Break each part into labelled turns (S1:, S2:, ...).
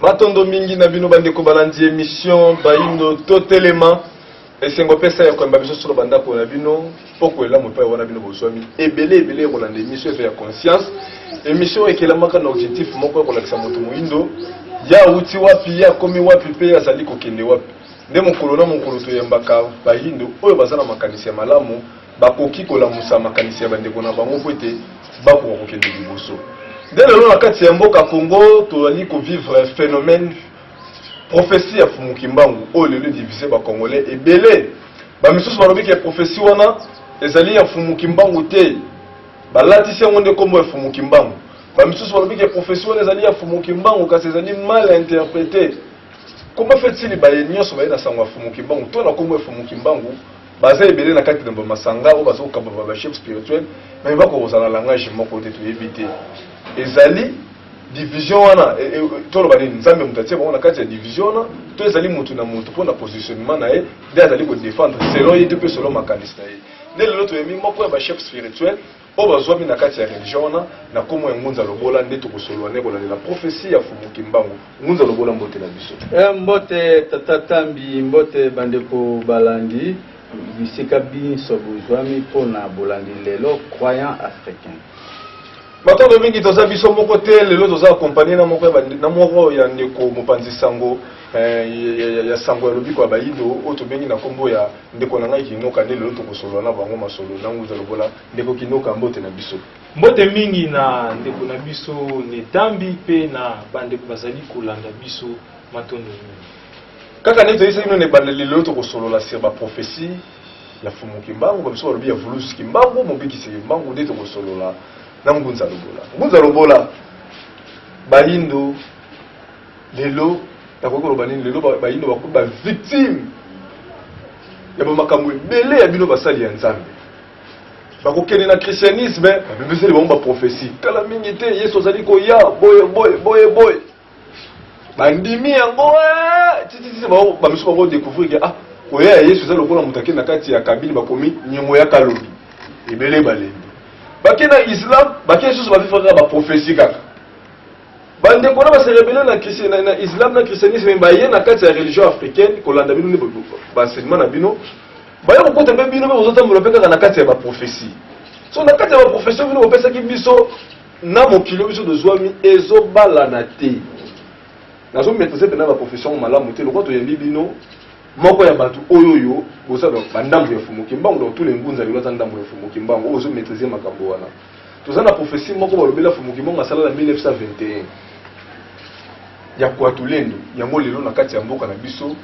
S1: Matondo mingi na bino
S2: bandeko balandi emission bayindo totelema esengo pesa ya koyamba biso solo bandako na bino mpoko elamu epai wana bino bozwami ebele ebele ya kolanda emission eza ya conscience emission oyo ekelamaka na objectif moko ya kolakisa moto moyindo ye awuti wapi ye akomi wapi mpe ye azali kokende wapi nde mokolo na mokolo toyambaka bayindo oyo baza na makanisi ya malamu bakoki kolamusa makanisi ya bandeko na bango mpo ete bakoka kokende liboso. Nde lelo na kati ya mboka Congo tozali kovivre phenomène prophetie ya Fumu Kimbangu oyo lelo divise ba Congolais ebele. Ba misusu balobi ke prophetie wana ezali ya Fumu Kimbangu te, balatisi yango nde kombo ya Fumu Kimbangu. Ba misusu balobi ke prophetie wana ezali ya Fumu Kimbangu kasi ezali mal interprete. Comment fait-il baye nyonso baye na sango ya Fumu Kimbangu to na kombo ya Fumu Kimbangu Baza ebele na kati na ba masanga oyo bazo kamba ba ba chefs spirituels mais ba ko kozala langage moko te toyebi te ezali division wana e, e, toloba nini nzambe moto atie bango na kati ya division wana to ezali motu na motu mpo na positionnement na ye nde azali kodefendre selon ye te mpe selon makanisi na ye nde lelo toyemi moko ya bachef spirituel oyo bazwami na kati ya religion wana na kombo ya Ngunza Lobola nde tokosolola ne kolandela prophetie ya Fumu Kimbangu. Ngunza Lobola mbote na biso. Eh, mbote Tata
S3: Tambi, mbote bandeko balandi bisika binso bozwami mpo na bolandi lelo croyant africain.
S2: Matondo mingi toza biso moko te lelo toza accompagné na moko na moko ya ndeko mopanzi sango eh, ya sango ya lobiko ya bayindo oyo tobengi na kombo ya Ndeko na ngai Kinoka nde lelo tokosolola na bango masolo na Nguza Lobola. Ndeko Kinoka, mbote na biso. Mbote mingi
S4: na ndeko na biso Netambi mpe na bandeko bazali kolanda biso, matondo mingi. Kaka ndenge
S2: toyebisaki bino na ebandeli, lelo tokosolola sur ba propheties ya Mfumu Kimbangu, ba misusu balobi ya Vuluzi Kimbangu, Mobikisi Kimbangu, nde tokosolola na Ngunza Lobola. Ngunza Lobola, bayindo. Lelo nakoki koloba nini? Lelo bayindo bakomi ba victime ya bamakambo ebele ya bino basali ya Nzambe. Bakokende na christianisme babebeseli bango baprofesi kala mingi te, Yesu azali koya boye boye boye boye, bandimi yango eh, tititi bango bamisu bango découvrir ke ah koya ya Yesu eza lokola moto akende na kati ya kabine bakomi nyongo ya kalobi ebele balembi bake na Islam bake lisusu bafifaka baprofesi kaka Ba ndeko na ba se rebelle na christi na, na islam na christianisme mais baye na kati ya religion africaine kolanda bino nde ba- ba- ba enseignement na bino baye kokota mpe bino mpe bozotambola mpe kaka na kati ya ba prophetie so na kati ya ba prophetie oyo bino bopesaki biso na mokili oyo biso tozwami ezobalana te nazo maîtriser mpenza ba prophetie yango malamu te lokola toyambi bino moko ya bato oyo oyo boza ba- bandambo ya fumu kimbangu donc tous les ngunza lelo aza ndambo ya fumu kimbangu oyo ozo maîtriser makambo wana Toza na prophetie moko balobela Mfumu Kimonga asala na 1921 ya Kuatulendo, yango lelo na kati ya mboka na biso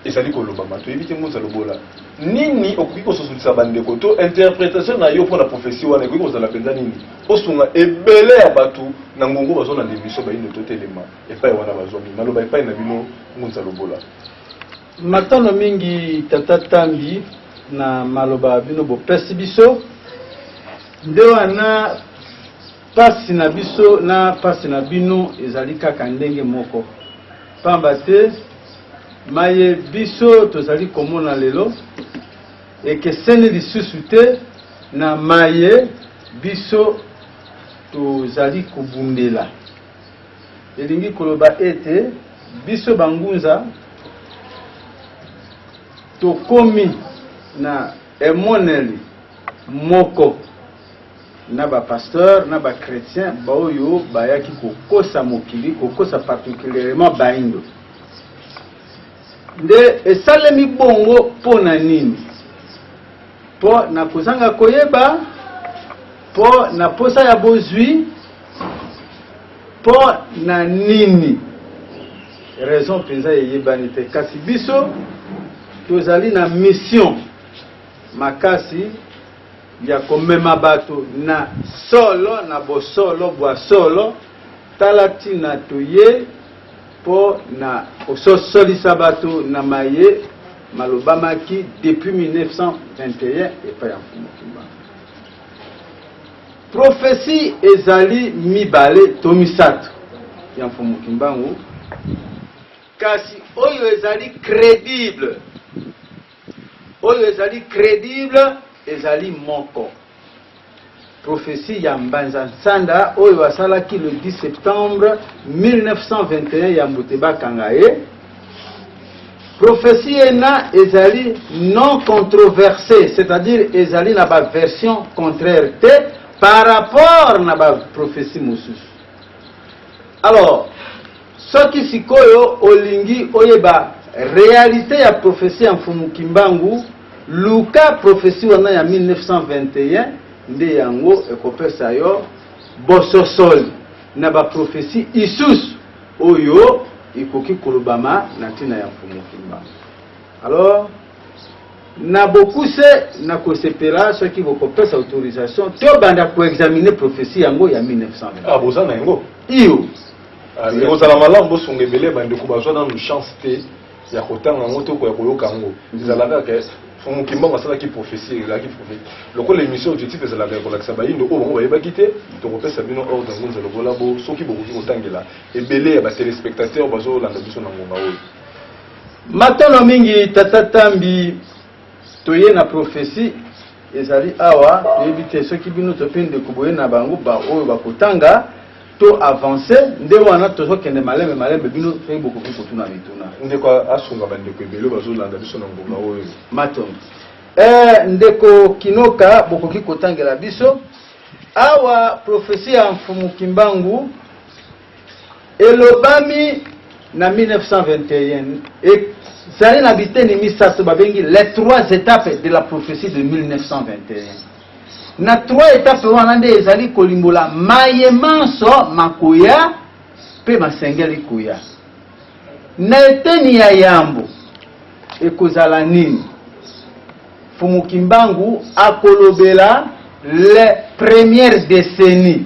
S2: ezali kolobama, toyebi te Ngunza Lobola, nini okoki kososolisa bandeko to interpretation na yo mpo na prophetie wana ekoki kozala mpenza nini? Osunga ebele ya bato na ngongo bazolanda emission bayindo totelema epai wana bazwami maloba epai na bino Ngunza Lobola.
S3: Matondo mingi tata Tambi na maloba bino bopesi biso nde wana pasi na biso na pasi na bino ezali kaka ndenge moko pamba te maye biso tozali komona lelo ekeseni lisusu te na maye biso tozali kobundela. Elingi koloba ete biso bangunza tokomi na emoneli moko na ba pasteurs na ba chretiens baoyo bayaki kokosa mokili, kokosa particulierement baindo. Nde esalemi bongo mpo na nini? Mpo na kozanga koyeba, mpo na posa ya bozwi. Mpo na nini? Raison mpenza eyebani te, kasi biso tozali na mission makasi ya komema bato na solo, na bosolo bwa solo. Tala ntina toyei, mpo na kososolisa bato na maye malobamaki depuis 1921 epai ya Mfumu Kimbangu. Prophetie ezali mibale to misato ya Mfumu Kimbangu, kasi oyo ezali credible, oyo ezali credible ezali moko. Prophetie ya Mbanza Nsanda oyo asalaki le 10 septembre 1921 ya mbote bakanga ye. Prophetie ena ezali non controversee, c'est-à-dire ezali na ba version contraire te par rapport na ba prophetie mosusu. Alors, soki sikoyo olingi oyeba realite ya prophetie ya Mfumu Kimbangu, luka prophetie wana ya 1921 nde yango ekopesa yo bososoli na ba prophetie isusu. oyo ekoki kolobama na ntina ya Mfumu Kimba. Alors, na bokuse nakosepela soki bokopesa autorisation tobanda koexamine prophetie yango ya 1920 ah, boza na yango
S2: iyo
S3: ah, ekozala
S2: malamu bosunga ebele bandeko bazwa nanu chance te ya kotanga yango to ya koyoka yango ezalaka ke Mfumu Kimbangu asalaki prophetie ezalaki prophetie lokola émission objectif ezalaka ya kolakisa bayindo oyo bango bayebaki te tokopesa bino ordre ngunza lokola bo soki bokoki kotangela ebele ya ba téléspectateurs bazolanda biso na ngonga oyo
S3: Matondo mingi tata Tambi. Toye na prophetie ezali awa toyebi te soki bino to pe ndeko boye na bango ba oyo bakotanga to avancer nde wana tozokende malembe malembe bino soki bokoki kotuna mituna. Ndeko asunga
S2: ba ndeko ebele bazolanda biso na ngonga oyo. Matondo.
S3: Eh ndeko Kinoka bokoki kotangela biso awa prophetie ya Mfumu Kimbangu Elobami na 1921 ezali na biteni misato babengi les trois etapes de la prophetie de 1921. Na trois etapes wana nde ezali kolimbola maye manso makoya mpe masengeli koya. Na eteni ya yambo ekozala nini? Mfumu Kimbangu akolobela les premières decennies.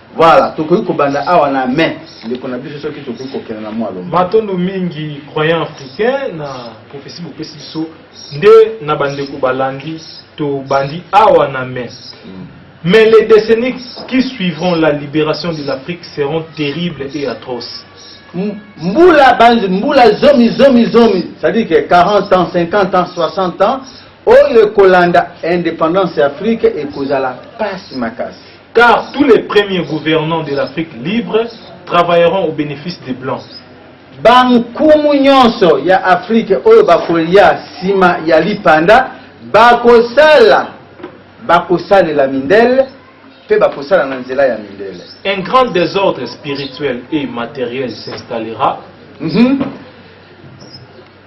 S3: Voilà, tokoki kobanda awa na main ndeko na biso soki tokoki kokenda na mwalo. Matondo mingi
S4: croyant africain na prophetie bopesi biso nde na bandeko balandi tobandi awa na main. Mm. Mais les décennies qui suivront la libération de l'Afrique seront terribles et atroces. Mboula,
S3: mboula zomi zomi zomi, c'est-à-dire que 40 ans, 50 ans, 60 ans, oyo ekolanda indépendance ya Afrique ekozala pasi makasi. Car tous les
S4: premiers gouvernants de l'Afrique libre travailleront au benefice des blancs. Bankumu
S3: nyonso ya Afrique oyo bakolia sima ya lipanda bakosala, bakosalela mindele mpe bakosala na nzela ya mindele. Un grand desordre
S4: spirituel et materiel s'installera. Mm -hmm.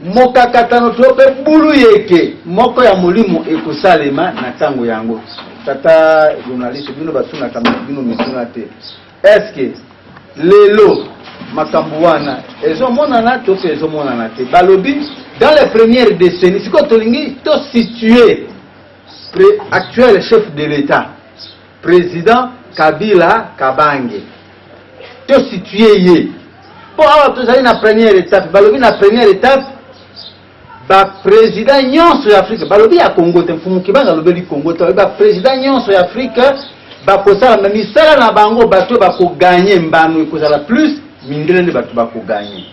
S3: Mokakatano to mpe buluyeke moko ya molimo ekosalema na ntango yango. Tata journaliste, bino batunaka bino mituna te. Est-ce que lelo makambo wana ezomonana to mpe ezomonana te? Balobi dans les premières décennies, sikoyo tolingi to situer actuel chef de l'État President Kabila Kabange to situe ye mpo awa tozali na première étape. Balobi na première étape ba president nyonso ya Afrique balobi ya Congo te, Mfumu Kibanga alobeli Congo te, ba president nyonso ya Afrique bakosala me misala na bango, bato bakoganye mbano ekozala plus mindele nde bato bakoganye.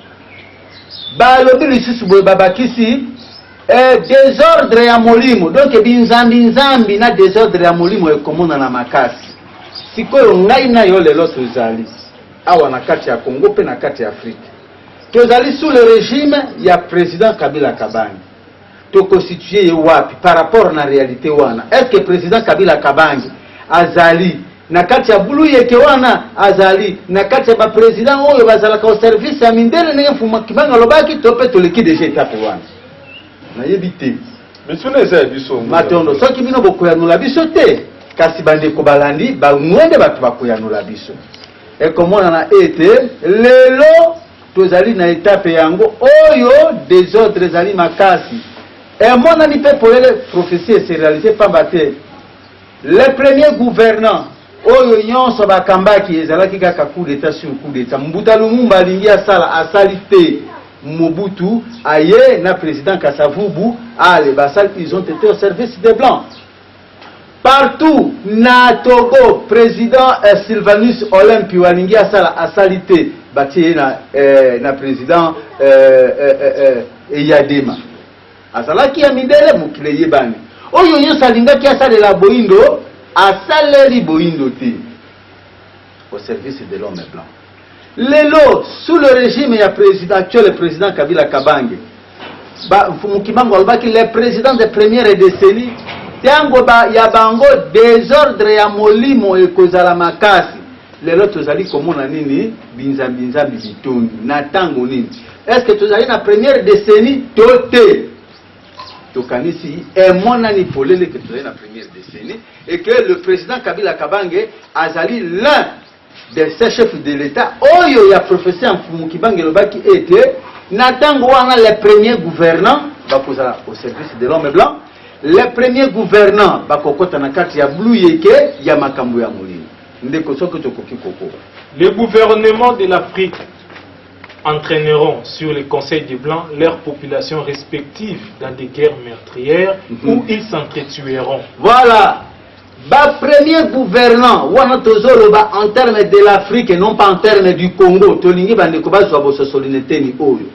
S3: Balobi lisusu boye babakisi Eh desordre ya molimo donc binzambi nzambi na desordre ya molimo ekomonana makasi sikoyo ngai na yo lelo tozali awa na kati ya Congo pe na kati ya Afrique tozali sous le regime ya president Kabila Kabange tokosituye ye wapi par rapport na realite wana est ce que president Kabila Kabange azali Na kati ya buluyeke wana azali na kati ya ba presidents oyo bazalaka au service ya mindele ndenge Mfumu wa Kimbangu alobaki to mpe toleki dejà etape wana? Nayebi te. Mituna eza
S2: ya biso yango. Matondo. Soki bino
S3: bokoyanola biso te, kasi bandeko balandi bango nde bato bakoyanola biso. Ekomonana ete lelo tozali na etape yango oyo desordre ezali makasi. Emonani mpe polele prophetie eserealize mpamba te Le premier gouvernant oyo nyonso bakambaki ezalaki kaka coup d'etat sur coup d'etat. Mbuta Lumumba alingi asala asali te. Mobutu aye na president Kasavubu ale basali ils ont été au service des blancs. Partout na Togo president eh, Sylvanus Olympio alingi asala asali te batie ye na, eh, na president eh, eh, eh, eh, Eyadema. Azalaki ya mindele, mokili eyebani. Oyo Yesu alingaki asalela boindo, asaleli boindo te au service de l'homme blanc. Lelo, sous le regime ya president actuel, president Kabila Kabange, ba Mfumu Kimbangu alobaki le president de première décennie, tango ba, ya bango desordre ya molimo ekozala makasi. Lelo tozali komona nini? Binzambi-nzambi bitondi. Na tango nini? Est-ce que tozali na première decennie to te? Tokanisi emonani polele que tozali na première decennie et que le président Kabila Kabange azali l'un des chefs de l'État oyo ya professeur Mfumu Kibange elobaki ete na tango wana les premiers gouvernants bakozala au service de l'homme blanc les premiers gouvernants bakokota na kati ya blue yeke ya makambo ya molimo Ndeko soki tokoki kokoba. Les gouvernements
S4: de l'Afrique entraîneront sur les conseils des Blancs leurs populations respectives dans des guerres meurtrières mm -hmm. où ils s'entretueront. Voilà
S3: Ba premier gouvernant wana tozoloba en terme de l'Afrique et non pas en terme du Congo tolingi bandeko bazwa bososoli na eteni oyo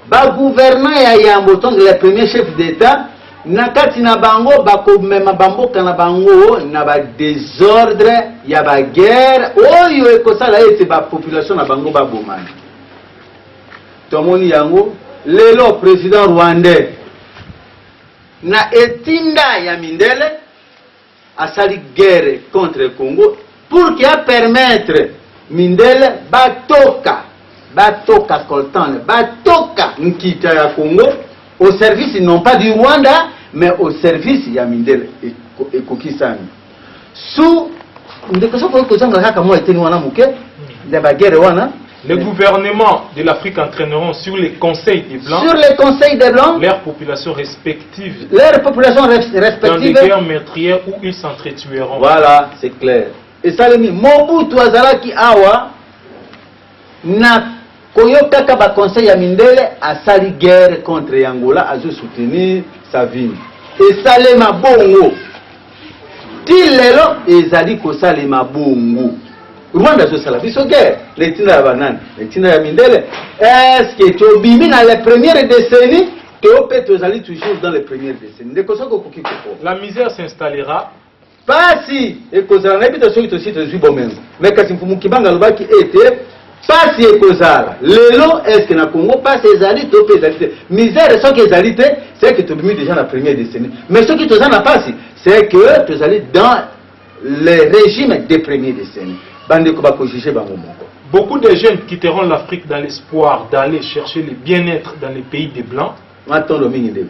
S3: Ba gouvernants ya yambo donc les premiers chefs d'Etat na kati na bango bakomema ba mboka na bango na ba desordres ya ba guerres oyo ekosala ete ba populations na bango babomana. Tomoni yango lelo president rwandais na etinda ya mindele. Asali guerre contre Congo pour que a permettre mindele ba toka ba toka coltan ba toka nkita ya Congo au service non pas du Rwanda mais au service ya mindele ekokisami sous ndeko soki okozanga kaka mwa eteni wana moke ya ba guerre wana Les gouvernements
S4: de l'Afrique entraîneront sur les conseils des Blancs, sur les conseils des Blancs,
S3: leurs populations
S4: respectives, leurs populations
S3: respectives, dans des guerres
S4: meurtrières où ils s'entretueront. Voilà, c'est clair.
S3: Et Salemi, Mobutu Azalaki Awa, n'a koyokaka ba conseil ya mindele asali guerre contre Angola azo soutenir Savimbi esalema bongo Tii lelo ezali kosalema bongo. Rwanda azosala biso guerre na etinda ya banani? Na etinda ya mindele. Eske tobimi na la première décennie to pe tozali toujours dans les premières décennies? Ndeko soki okoki koko. La misère s'installera.
S4: Pasi
S3: ekozala na bita soki tosi tozwi bomengo. Mais kasi Mfumu Kimbangu alobaki ete Pasi ekozala lelo est ce na congo pasi ezali to pe ezali te misere soki ezali te ce que tobimi deja na premier deceni mais soki toza na pasi ce que tozali dans le regime de premier deceni bandeko bako juge bango moko.
S4: Beaucoup des jeunes quitteront l'Afrique dans l'espoir d'aller chercher le bien-etre dans les pays des blancs. Matondo mingi ndeko.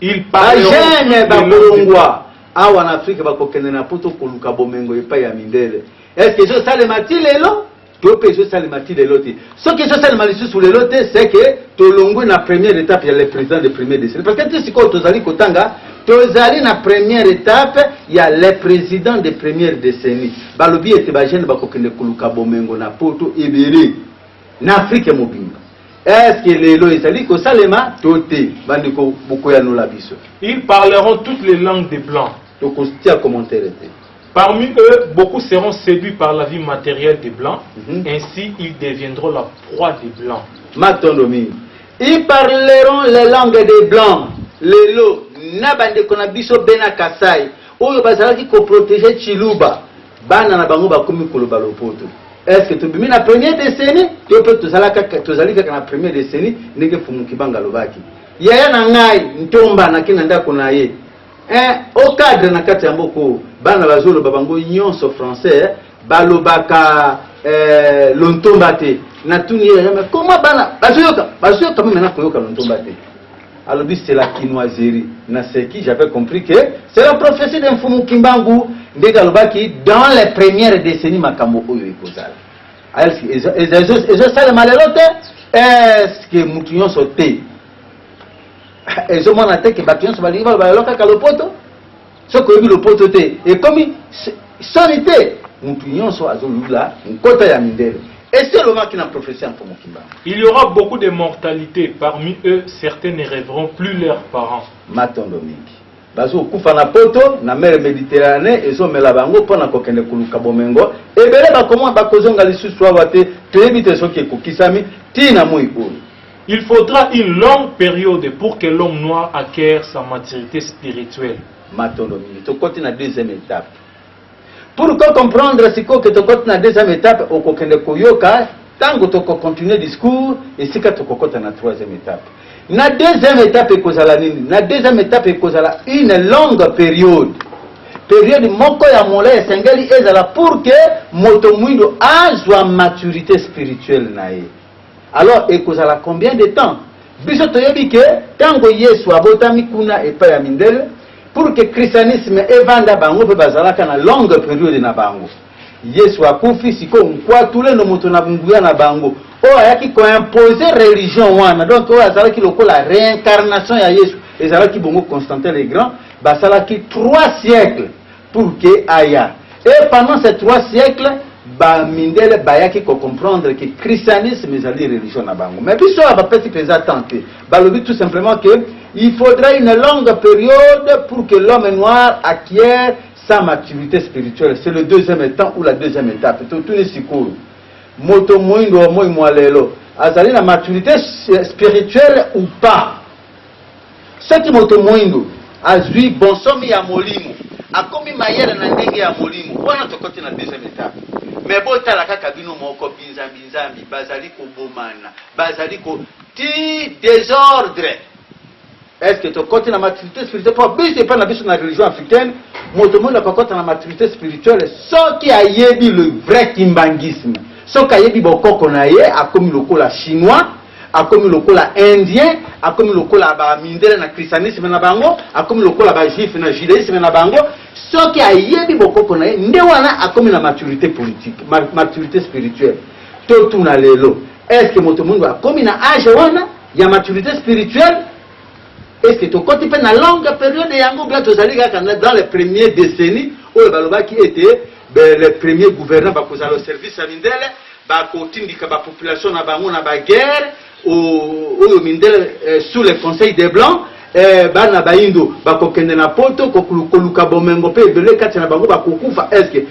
S4: Ils parleront. Ba jeunes ba bolongwa awa na Afrique bakokende na poto
S3: koluka bomengo epai ya mindele. Est-ce que ezosalema ti lelo? To mpe ezosalema ti lelo te. Soki ezosalema lisusu lelo te, c'est que tolongwe na première etape ya le president de premier decennie. Parce que ti sikoyo tozali kotanga, tozali na première etape ya le president de première decennie. Balobi ete ba jeunes bakokende koluka bomengo na poto ebele na Afrique mobimba. Est-ce que lelo ezali kosalema to te? Bandeko bokoyanola biso. Ils parleront
S4: toutes les langues des blancs. Tokotia commentaire te. Parmi eux, beaucoup seront seduits par la vie materielle des blancs, mm -hmm. ainsi ils deviendront la
S3: proie
S4: des blancs. Matondo mingi. Ils
S3: parleront les langues des blancs. Lelo na bandeko na biso bena Kasai oyo bazalaki ko protéger Chiluba, bana na bango bakomi koloba lopoto. Est-ce que tobimi na première décennie yo mpe tozali kaka na première décennie ndenge Fumu Kibanga alobaki. Yaya na ngai ntomba nake na ndako na ye Eh o cadre na kati yango ko bana bazoloba bango nyonso français eh, balobaka eh, lontomba te natuni ye yayama koma bana bazoyoka bazoyoka meme na koyoka lontomba te alobi c'est la kinoiserie naseki j'avais compris que c'est la prophétie de mfumu kimbangu ndenge alobaki dans les premières décennies makambo oyo ekozala ezosalema lelo te est ce que motu nyonso te ezo mona te ke bato nyonso balingi baloba lelo kaka lopoto soki oyebi lopoto te ekomi soni te motu nyonso azolula nkota ya mindele esi elobaki na professeur mpo mokimbanga il y aura beaucoup de
S4: mortalité parmi eux certains ne rêveront plus leurs parents matondo mingi
S3: bazokufa na poto na mere mediterranee ezomela bango mpo na kokende koluka bomengo ebele bakoma bakozonga lisusu awa te toyebi te soki ekokisami tii na moi oyo Il faudra
S4: une longue periode pour que l'homme noir acquiert sa maturite spirituelle. Matondo mingi.
S3: Tokoti na deuxième etape. Pour ko comprendre sikoyo que tokoti na deuxième etape, okokende koyoka tango toko continuer discours, esika tokokota na troisième etape. Na deuxième etape ekozala nini? Na deuxième etape ekozala une longue periode. Periode moko ya molayi esengeli ezala pour que moto muindu azwa maturite spirituelle na ye. Alors ekozala combien de temps? Biso toyebi que tango Yesu abotami kuna epai ya mindele, pour que christianisme evanda bango mpe bazalaka na longue periode na bango. Yesu akufi, sikoyo Nkwatulendo moto na nguya na bango oyo ayaki ko imposer religion wana, donc oyo azalaki lokola reincarnation ya Yesu, ezalaki bongo Constantin le Grand, basalaki trois siècles pour que aya et pendant ces trois siècles ba mindele bayaki ko comprendre que christianisme ezali religion na bango mais biso awa bapesi mpenza temps te balobi tout simplement que il faudra une longue période pour que l'homme noir acquiert sa maturité spirituelle c'est le deuxième temps ou la deuxième étape totuni sikoyo moto moindo wa moi mwa lelo azali na maturité spirituelle ou pas Soki moto moindo azwi bonsomi ya molimo, akomi mayele na ndenge ya molimo, wana tokoti na deuxième etape. Mais botala kaka bino moko, binzambi nzambi bazali kobomana, bazali ko tii desordre. Est-ce que tokoti na maturite spirituelle? Po biso epai na biso na religion africaine, moto moindo akokota na maturite spirituelle soki ayebi le vrai kimbanguisme, soki ayebi bokoko na ye, akomi lokola chinois, Akomi lokola indien, akomi lokola ba mindele na christianisme na bango, akomi lokola ba juifs na judaisme na bango. Soki ayebi bokoko na ye, nde wana akomi na maturite politique, maturite spirituelle. Totuna lelo, est ce que moto muindu akomi na age wana ya maturite spirituelle? Est ce que tokoti pe na longue periode yango ou bien tozali kaka dans les premiers decennies oyo balobaki ete les premiers gouvernants bakozala au service ya mindele? ba kotindika ba population na bango na ba guerre ooh oyo mindele eh, sous le conseil des blancs eh, bana bayindo bakokende na poto koluka bomengo mpe ebele kati na bango bakokufa eske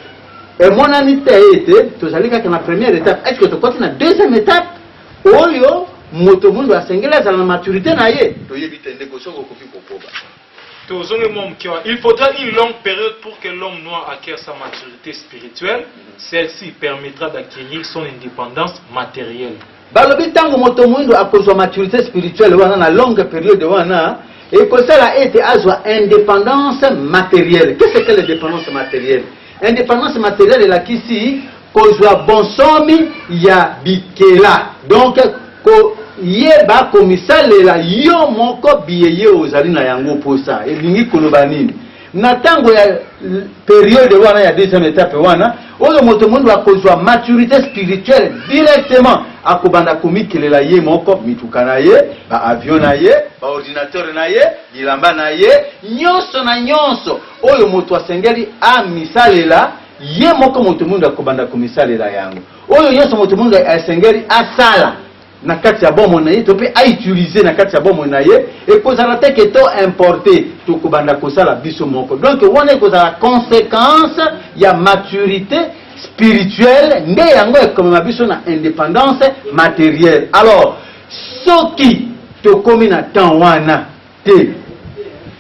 S3: emonani te ete tozali kaka na première étape eske tokoti na deuxième étape oyo moto mondo asengeli azala na maturité na ye toyebi te ndeko soki okoki kokoba Tozongi mwa
S4: moke wana. Il faudra une longue periode pour que l'homme noir acquiert sa maturite spirituelle, celle-ci permettra d'acquerir son independance materielle. Balobi tango
S3: moto moindo akozwa maturite spirituelle wana na longue periode wana ekosala ete azwa independance materielle. Qu'est-ce qu'est l'independance materielle? Independance materielle elakisi kozwa bonsomi ya bikela, donc koyeba komisalela yo moko biye ozali na yango posa. Elingi koloba nini? na tango ya periode wana ya deuxième etape wana oyo moto mondo akozwa maturité spirituelle directement akobanda komikelela ye moko mituka na ye baavion na ye baordinateur na ye bilamba na ye nyonso na nyonso oyo moto asengeli amisalela ye moko, moto moindo akobanda komisalela yango, oyo nyonso moto moindo esengeli asala na kati ya bomoi na ye to mpe a utiliser na kati ya bomoi na ye, ekozala te que to importer, tokobanda kosala biso moko. Donc wana ekozala consequence ya maturite spirituelle, nde yango ekomema biso na independance materielle. Alors soki tokomi na temps wana, Te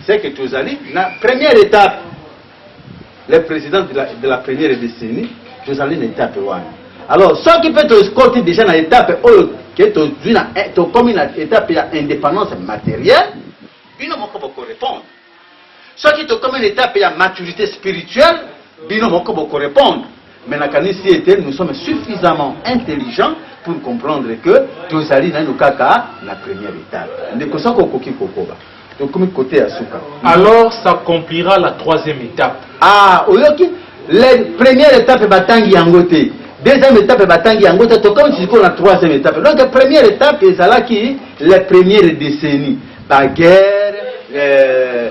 S3: c'est que tozali na première etape le président de la, de la première décennie tozali na etape wana alors soki mpe tokoti déjà na etape oyo ke tozwi na eh, tokomi na etape ya indépendance matérielle bino moko bokorépondre soki tokomi na etape ya maturité spirituelle bino moko bokorépondre Mais nakanisi ete nous sommes suffisamment intelligents pour comprendre que tozali naino kaka na première étape. Ndeko soko okoki kokoba tokomi kote ya suka. Alors
S4: s'accomplira la troisième étape. Ah, oyoki
S3: la première étape batangi yango te. Deuxième étape batangi yango te tokomi sikoyo na troisième étape. Donc première étape ezalaki la première décennie. Baguerre euh,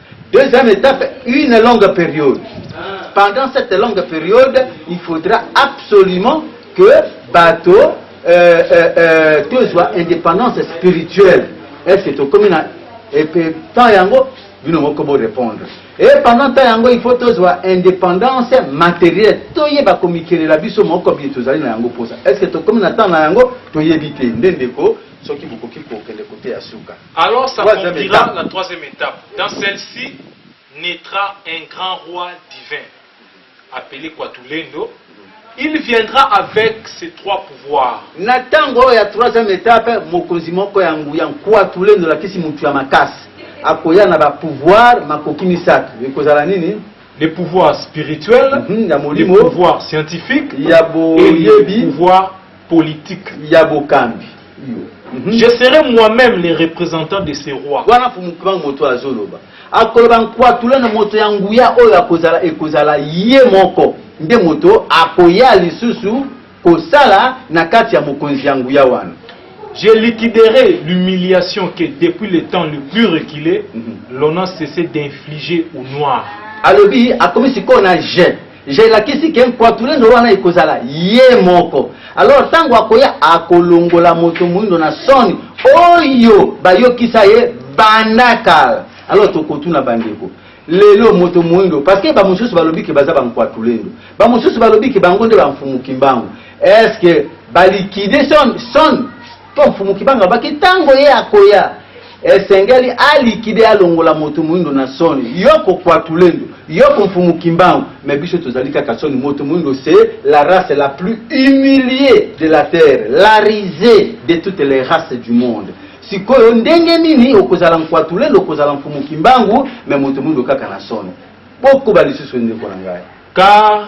S3: Deuxième etape, une longue periode. Pendant cette longue periode, il faudra absolument que bato euh, euh, euh, tozwa indépendance spirituelle. Est-ce que tokomi na epe temps yango bino moko bo répondre. Et pendant temps yango il faut tozwa indépendance matérielle. Toyeba komikelela biso moko biye tozali na yango posa. Est-ce que tokomi na temps na yango toyebi te. Nde ndeko soki bokoki kokende kote ya suka. Alors ça conclura
S4: la troisième etape. Dans celle-ci naîtra un grand roi divin, appelé Quatulendo. Il viendra avec ses trois pouvoirs. Na tango oyo ya
S3: troisième etape, mokonzi moko ya nguya Nkuatulendo alakisi mutu ya makasi akoya na ba pouvoir makoki misato. Ekozala nini? Les pouvoirs
S4: spirituels, mm -hmm, ya molimo, les pouvoirs scientifiques, ya boyebi, et les pouvoirs politique ya bokambi
S3: iyo. Mhm.
S4: Je serai moi-même le représentant de ce roi. Wana Fumukibangu moto
S3: azoloba. Akoloba nkwatula na moto ya nguya oyo akozala ekozala ye moko nde moto akoya lisusu kosala na kati ya mokonzi ya nguya wana. Je
S4: liquiderai l'humiliation que depuis le temps le plus reculé, mm -hmm. l'on a cessé d'infliger aux Noirs. Alobi akomi
S3: sikoyo na je Je lakisi ke mpuatulendo wana ekozala ye moko alors tango akoya akolongola moto moindo na soni oyo bayokisa ye banda kala alors tokotuna bandeko lelo moto moindo parce que bamosusu balobi ke baza bampuatulendo bamosusu balobi ke bango nde bamfumu kimbangu est ce que balikide son, son Mpo Mfumu Kibanga alobaki ntango ye akoya, esengeli a liquider, alongola moto moindo na soni. Yoko Kwatulendu, yoko Mfumu Kimbangu, mais biso tozali kaka soni, moto moindo c'est la race la plus humilie de la terre, la risee de toutes les races du monde. Sikoyo ndenge nini okozala Nkwatulendu, okozala Mfumu Kimbangu, mais moto moindo kaka na soni? Bokoba lisusu ndeko na ngai. Car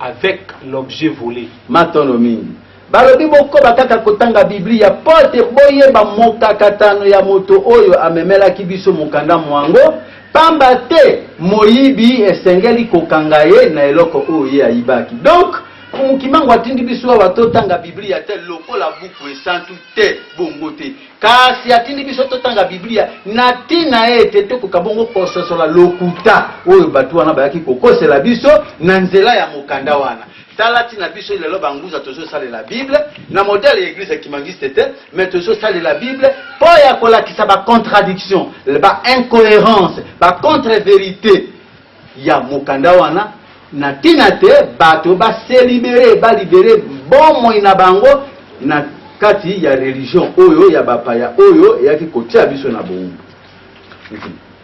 S4: avec l'objet vole. Matondo mingi.
S3: Balobi bokoba kaka kotanga Biblia mpo te boyeba mokakatano ya moto oyo amemelaki biso mokanda mwango, pamba te moyibi esengeli kokanga ye na eloko oyo ye ayibaki. Donc, Mfumu Kimbangu atindi biso awa totanga Biblia te lokola buku esantu? Te, bongo te. Kasi atindi biso totanga Biblia na ntina ete tokoka bongo kososola lokuta oyo bato wana bayaki kokosela biso na nzela ya mokanda wana. Tala ntina biso lelo banguza tozosalela Bible na modele ya Eglise kimangiste te, me tozosalela Bible mpo ya kolakisa ba contradiction, ba incoherence, ba contre verite ya mokanda wana na ntina te bato ba se liberer, ba liberer bomoi na bango na kati ya religion oyo ya bapaya oyo eyaki kotia biso na boumbu.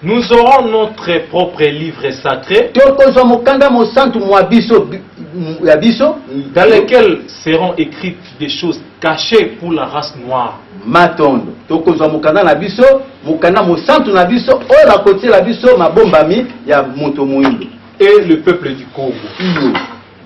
S4: Nous aurons notre propre livre sacré. Tokozwa mokanda mosantu mwa biso ya biso. Dans lequel seront écrites des choses cachées pour la race noire. Matondo. Tokozwa mokanda na biso, mokanda mosantu na biso oyo bakotiela biso mabombami ya moto moindo. Et le peuple du Congo. Iyo.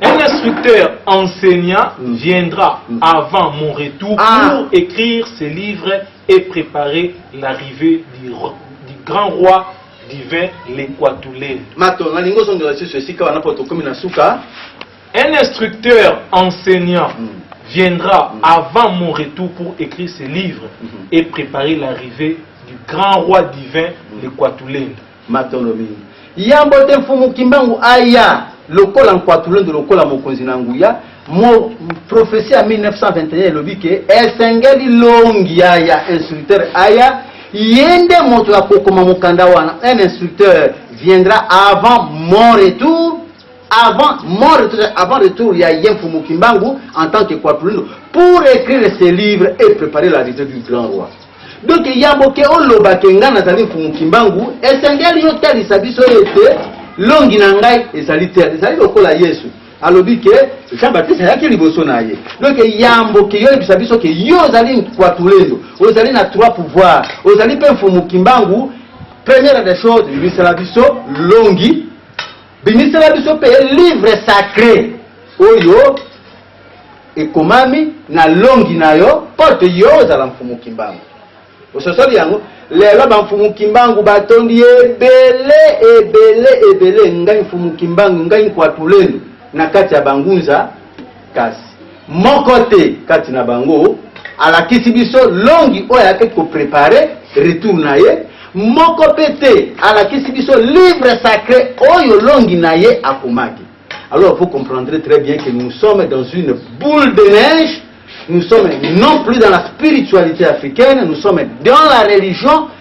S4: Un instructeur enseignant mm. viendra mm. avant mon retour ah. pour écrire ses livres et préparer l'arrivée du, du grand roi divin l'Equatulé. Matondo. Nalingi ozongela lisusu esika wana mpo tokomi na suka. Un instructeur enseignant viendra avant mon retour pour ecrire ses livres et preparer l'arrivee du grand roi divin le Kuatulendo. Matondo mingi. Yambo
S3: te Mfumu Kimbangu aya lokola Nkuatulendo lokola mokonzi na nguya, mo, prophetie ya 1921 elobi ke esengeli longi ya ya instructeur aya, ye nde moto ya kokoma mokanda wana, un instructeur viendra avant mon retour, avant mon retour, avant retour, il y a Yen Fumu Kimbangu en tant que Kwapulino pour écrire ce livre et préparer la visite du grand roi. Donc il y a boke oloba ke nga nazali Fumu Kimbangu, esengeli yo talisa biso ete longi na ngai ezali te, ezali lokola Yesu. alobi ke jean baptiste ayaki liboso na ye donc yambo ke yoyebisa biso ke yo ozali kwatulendo ozali na trois pouvoir ozali mpe mfumu kimbangu première des choses yebisela biso longi Bimisela biso pe livre sacre oyo ekomami na longi na yo porte yo ozala mfumu kimbangu ososoli yango lelo bamfumu kimbangu batondi ebele ebele ebele ngai mfumu kimbangu ngai nkwatulenu na kati ya bangunza Kasi, moko te kati na bango alakisi biso longi oyo ayaki ko preparer retour na ye, moko pe te alakisi biso livre sacre oyo longi na ye akomaki. Alors, vous comprendrez très bien que nous sommes dans une boule de neige, nous sommes non plus dans la spiritualite africaine, nous sommes dans la religion,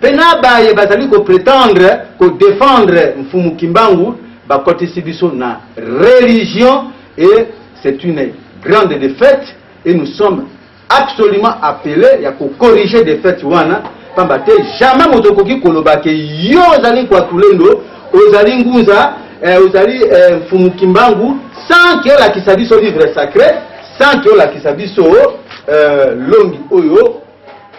S3: pe na baye bazali ko pretendre ko defendre Mfumu Kimbangu bakotisi biso na religion et c'est une grande defaite et nous sommes absolument appeles ya ko corriger defaite wana pamba te jamais moto okoki koloba ke yo ozali Kwatulendo ozali Ngunza eh, ozali eh, Mfumu Kimbangu sans ke olakisa biso livre sacre sans ke olakisa biso eh, longi oyo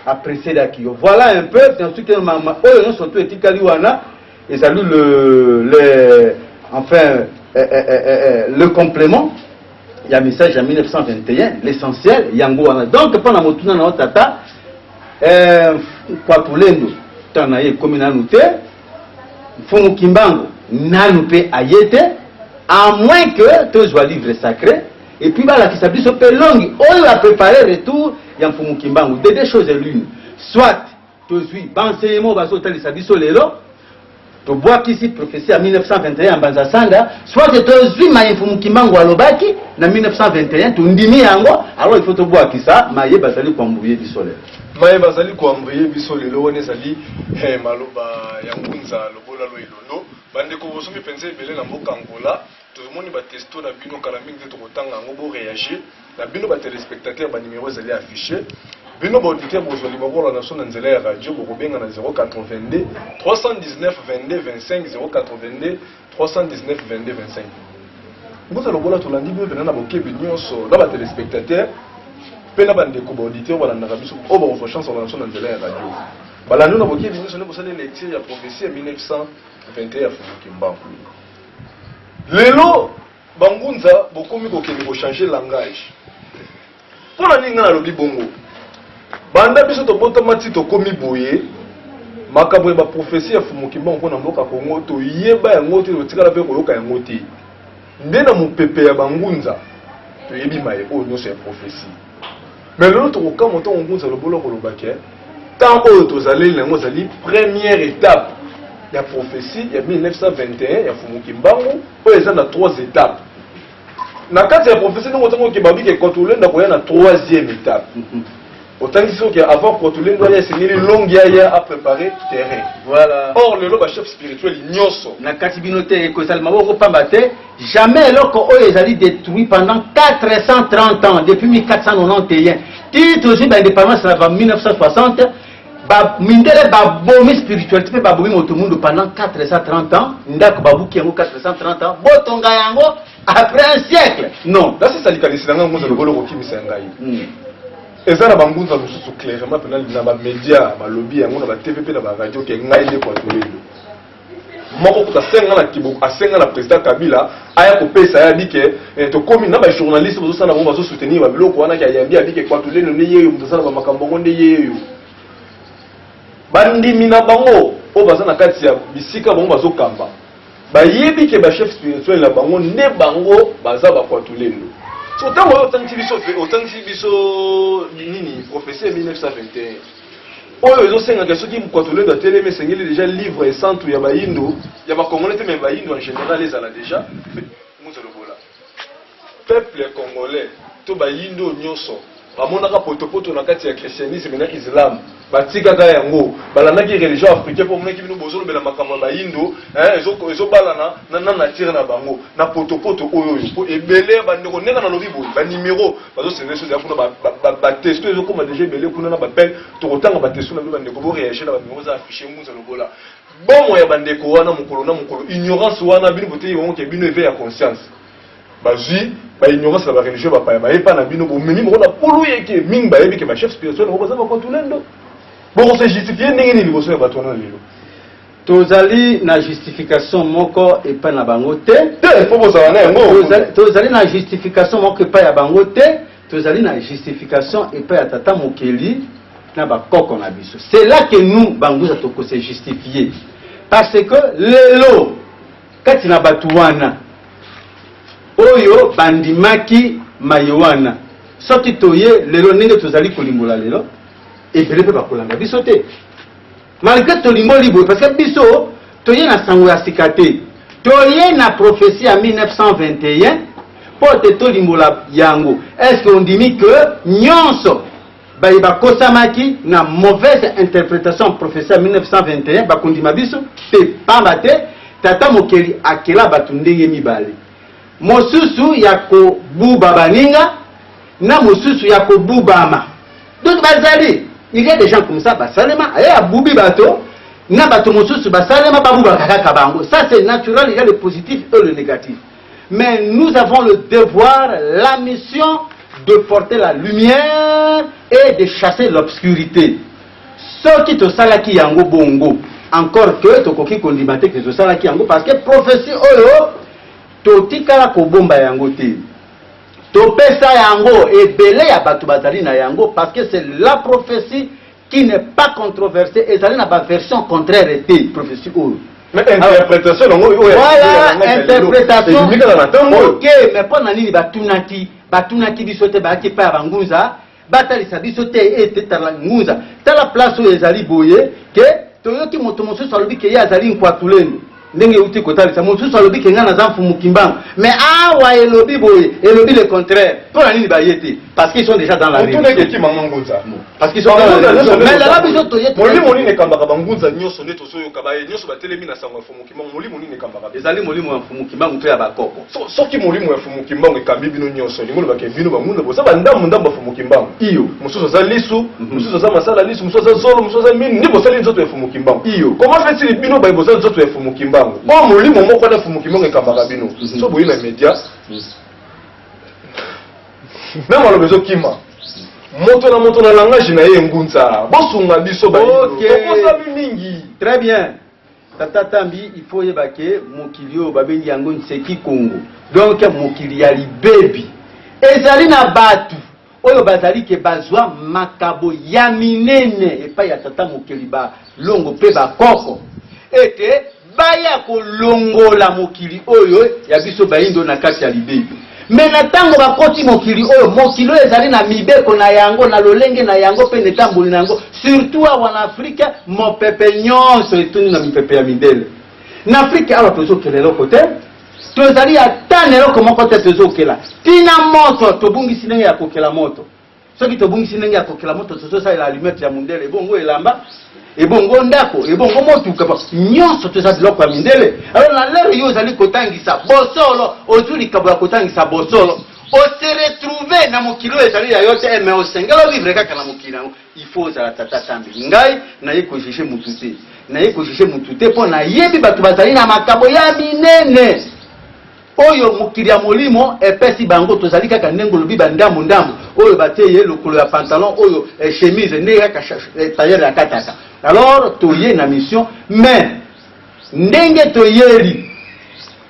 S3: apreselaki yo voilà un peu dans ce que mama oyo nyonso to etikali wana ezali le le enfin eh, eh, eh, eh, eh le complément ya message ya 1921 l'essentiel yango wana donc mpo na motuna na yo tata eh, kwatulendo ntango na ye ekomi nanu te mfumu kimbango nanu mpe aye te à moins que tozwa livre sacré Et puis balakisa biso pe longi oyo a preparer retour ya Mfumu Kimbangu. De deux choses l'une. Soit tozwi ba enseignements bazo talisa biso lelo tobwakisi prophetie ya 1921 ya Mbanza Sanda, soit tozwi maye Mfumu Kimbangu alobaki na 1921 tondimi yango, alors il faut tobwakisa maye bazali koambuye biso lelo. Maye bazali
S2: koambuye biso lelo wana ezali eh, maloba ya Ngunza Lobola Lwa Ilondo. Bandeko bosomi mpenza ebele na mboka Angola. Tomoni ba testo na bino kala mingi te toko tanga yango bo reagir na bino ba telespectateurs ba numero ezali affiche bino ba auditeur bozo liba bola na biso na nzela ya radio boko benga na 082 319 22 25 082 319 22 25 mbuta lobola tolandi bino pena na bokebi nyonso na ba telespectateurs mpe na bandeko ba auditeur balandaka biso oyo bakozwa chance balanda biso na nzela ya radio balandi na bokebi nyonso nde bosali lecture ya prophetie ya 1921 ya fufu kimbangu Lelo ba ngunza bokomi kokende ko changer langage. Mpo na nini ngai nalobi bongo? Banda biso tobotama ti tokomi boye, makambo ya ba prophetie ya Fumu Kimbangu mpo na mboka Congo toyeba yango te, totikala mpe koyoka yango te. Nde na mopepe ya ba ngunza toyebi maye oyo nyonso ya prophetie. Mais lelo tokokamwa ntango Ngunza Lobolo akoloba ke temps oyo tozaleli na yango ezali première étape ya prophetie ya 1921 ya Mfumu Kimbangu oyo eza na trois étapes. Na kati ya prophetie ndenge otangi oke babi ke Kotulendo akoya na troisième étape. Otangisi soki avant Kotulendo aya esengeli Longi aya a preparer terrain. Voilà. Or lelo ba chefs spirituels nionso. Na kati bino te ekosalema bongo pamba te.
S3: Jamais eloko oyo ezali detruit pendant 430 ans depuis 1491 ti tozui ba independance na ba 1960 ba mindele babomi spiritualité mpe babomi moto mundu pendant 430 ans ndako babuki yango 430 ans botonga yango après un siècle non nasisa likanisi na ngai
S2: ngunza lokola okokimisa ya ngai hmm. eza na bangunza mosusu clairement mpena na bamedia balobi yango na batv mpe na baradio ke ngai nde kwatolelo moko kutu asenga na kibo asenga na president kabila aya kopesa ye abike eh, tokomi na bajournaliste bazosala bango bazosoutenir babiloko wana kayambi abike kwatulelo nde yeyo moto asala bamakambo yango nde yeyo bandimi na bango oyo baza na kati ya bisika bango bazokamba bayebi ke bachef spirituel na bango nde bango baza bakwatulelo so ntango oyo otangisi biso otangisi biso nini professeur 1921 Oyo ezo senga ke soki Mkwatulendo atelemi esengeli deja livre esantu ya bayindo, ya ba congolais te mais bayindo en general ezala deja Muzo Lobola. Peuple congolais to bayindo oyo nyoso bamonaka potopoto na kati ya christianisme na islam batikaka yango, balandaki religion africain po bamonaki bino bozo lobela makambo ya bayindo eh ezo ezo balana na nature na bango na potopoto oyo oyo po ebele ya ba ndeko ndenge nalobi boye ba numero bazo servir soja kuna ba ba ba ba testo ezo koma deja ebele kuna na ba belle toko tanga ba testo na bino ba ndeko bo reagir na ba numéro za afficher muza lobola bomo ya ba ndeko wana mukolo na mukolo ignorance wana bino boteyi bango ke bino eveil ya conscience bazwi ba ignorance na ba religion ba paya baye pa na bino bomemi moko na polo yeke mingi bayebi ke ba chef spirituel ngo baza ba kotulendo boko se justifier ndenge ni liboso ya bato wana lelo Tozali
S3: na justification moko epai na bango te. Te, mpo bozala na yango.
S2: Tozali, tozali na
S3: justification moko epai ya bango te. Tozali na justification epai ya Tata Mokeli na bakoko na biso. C'est là que nous, Banguza, toko se justifier. Parce que lelo, kati na bato wana, oyo bandimaki maye wana, soki toye lelo ndenge tozali kolimbola lelo, ebele mpe bakolanda biso te. Malgre tolimboli boye parce que biso toye na sango ya sika te. Toye na prophetie ya 1921 mpo te tolimbola yango. Est-ce que ondimi que nionso baye bakosamaki na mauvaise interpretation ya prophetie ya 1921 bakondima biso? Te, pamba te Tata Mokeli akela bato ndenge mibale, mosusu ya kobuba baninga na mosusu ya kobubama. Donc bazali il y a des gens comme ça basalema aye abubi bato na bato mosusu basalema babubaka kaka bango ça c'est naturel il y a le positif et le négatif mais nous avons le devoir la mission de porter la lumière et de chasser l'obscurité soki tosalaki yango bongo encore que tokoki kondima te ke tosalaki yango parce que prophétie oyo totikala kobomba yango te Topesa yango ebele ya batu bazali na yango parce que c'est la prophetie qui n'est pas controversee ezali na ba version contraire te prophetie oyo. Mais interpretation
S2: nango oyo ya lelo ya langage ya
S3: lelo ebimi kaka na tango oyo. Voilà interpretation ok mais pona nini batunaki batunaki biso te bayaki epai ya ba ngunza. Batalisa biso te ete tala ngunza, tala place oyo ezali boye ke toyoki moto mosusu alobi ke ye azali Nkwatulendo ndenge euti kotalisa mosusu alobi ke ngai naza Mfumu Kimbangu me awa elobi boye elobi le contraire mpo na nini baye te parce qu'ils sont déjà dans la Motuna religion. ekeki mama ngunza Parce qu'ils sont dans la Bangunza religion. nyonso nde Mais lala toza- biso toye molimo nini ekambaka
S2: bangunza nyonso nde tozoyoka baye nyonso batelemi na sango ya Mfumu Kimbangu, molimo nini ekambaka bino? Ezali molimo ya Mfumu
S3: Kimbangu to ya ba koko? So, soki molimo ya Mfumu
S2: Kimbangu ekambi bino nionso, elingi koloba ke bino ba Munda boza ba ndambu ndambu ya Mfumu Kimbangu? Iyo. Mosusu aza lisu, mosusu aza masala lisu, mosusu aza zolo, mosusu aza minu, nde bosali nzoto ya Mfumu Kimbangu. Iyo. Comment fait-il bino baye boza nzoto ya Mfumu Kimbangu, oyo molimo moko wana ya Mfumu Kimbangu ekambaka bino, soki boye na media, na maloba ezo kima, moto na moto na langage na ye, Ngunza, bosunga biso bayindo, tobosami mingi. Très bien.
S3: Tata Tambi, il faut oyeba ke mokili oyo babengi yango Nseki Kongo, donc mokili ya libebi. Ezali na batu oyo bazali ke bazwa makabo ya minene epai ya tata mokeli, ba longo pe ba koko, ete baya kolongola mokili oyo ya biso bayindo na kati ya libebi. Mais na tango bakoti mokili oyo, mokili oyo ezali na mibeko na yango, na lolenge na yango mpe na etamboli na yango, surtout awa na Afrika, mopepe nyonso etundi na mipepe ya mindele. Na Afrika awa tozokela eloko te, tozali ata na eloko moko te tozokela, ti na moto tobungisi ndenge ya kokela moto. soki tobungisi ndenge ya kokela moto tozosalela alumete ya mondele ebongo elamba ebongo ndako ebongo motuka nyonso toza biloko ya mindele alors na lere yo ozali kotangisa bosolo ozwi likabo ya kotangisa bosolo ose retrouve na mokili oyo ezali ya yo te eh, me osengeli ovivre kaka na mokili yango il faut ozala tata tambi ngai naye kojuge motu te naye kojuge motu te mpo nayebi bato bazali na makabo ya minene Oyo mokili ya molimo epesi bango tozali kaka ndenge olobi ba ndambu ndambu oyo batie ye lokolo ya pantalon oyo chemise nde kaka tailleur akataka alors toye na mission mais ndenge toyeli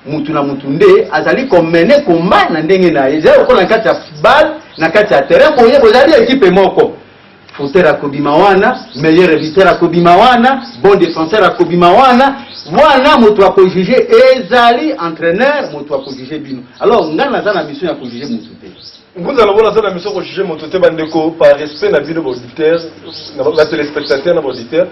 S3: mutu na mutu nde azali ko mener combat na ndenge na ye ezali lokola na kati ya football na kati ya terrain boye bozali equipe moko Footer akobima wana, meilleur buteur akobima wana, bon defenseur akobima wana, wana moto ako juge ezali entraîneur moto ako juge bino. Alors ngai naza na mission ya ko juge moto te. Ngunza na bola na
S2: mission ko juge moto te bandeko par respect na bino ba auditeurs, na ba téléspectateurs na ba auditeurs,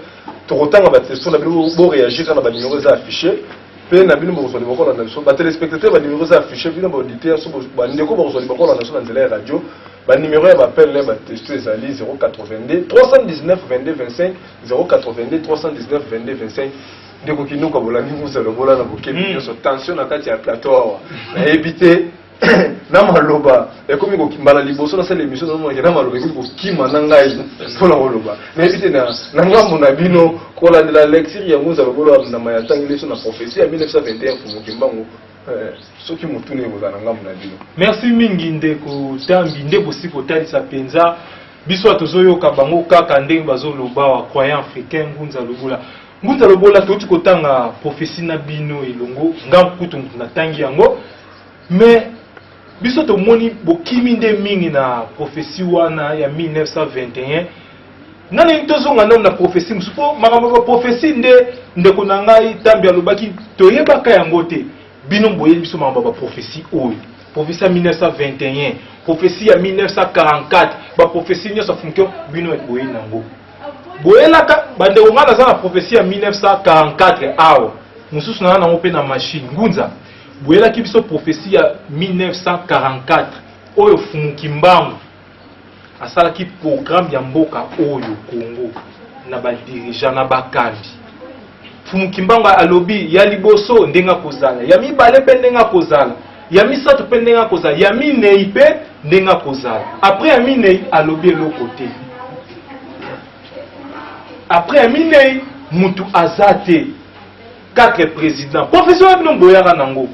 S2: tokotanga ba questions na bino bo réagir na ba numéros eza affiché mpe na bino bokozwa liboko na biso ba téléspectateurs ba numéros eza affiché bino ba auditeurs so ba ndeko bokozwa liboko na biso na nzela ya radio Ba numero ya ba appel na ba texto ezali 082 319 22 25 082 319 22 25 ndeko kinuka bolandi nguza lobola na bokebi hmm. nyonso tension na kati ya plateau awa nayebi te na maloba ekomi mbala liboso nasala émission namonake na maloba ekomi kokima na ngai mpona koloba nayebi te na ngambo na bino kolandela lecture yango nzala koloba ndama ya ntangi leso na prophetie ya 1921 fumuki mbango Eh, soki motuna ekozala na ngambo
S4: na bino. Merci mingi ndeko Tambi, nde bosi kotalisa mpenza biso tozoyoka bango kaka ndenge bazoloba wa croyant africain Ngunza Lobula. Ngunza Lobola touti kotanga prophetie na bino elongo, nga kutu moto natangi yango mais Biso tomoni bokimi nde mingi na prophetie wana ya 1921 nga ndenge tozonga nano na prophetie mosusu mpo makambo ya prophetie nde ndeko na ngai ntambi alobaki toyebaka yango te bino boyebi biso makambo ya baprophetie oyo prophetie ya 1921 prophetie ya 1944 baprophetie nyonso afunkio bino boyebi nango boyelaka bandeko ngai naza na prophetie ya 1944 awa mosusu naa nango mpe na machine ngunza Boyelaki biso prophetie ya 1944 oyo Fumu Kimbangu asalaki programme ya mboka oyo Congo na ba dirigeants na bakambi. Fumu Kimbangu alobi ya liboso ndenge akozala, ya mibale pe ndenge akozala, ya misato pe ndenge akozala, ya minei pe ndenge akozala. Après ya minei alobi eloko te. Après ya minei mutu aza te. Quatre president profession wana bino boyaka nango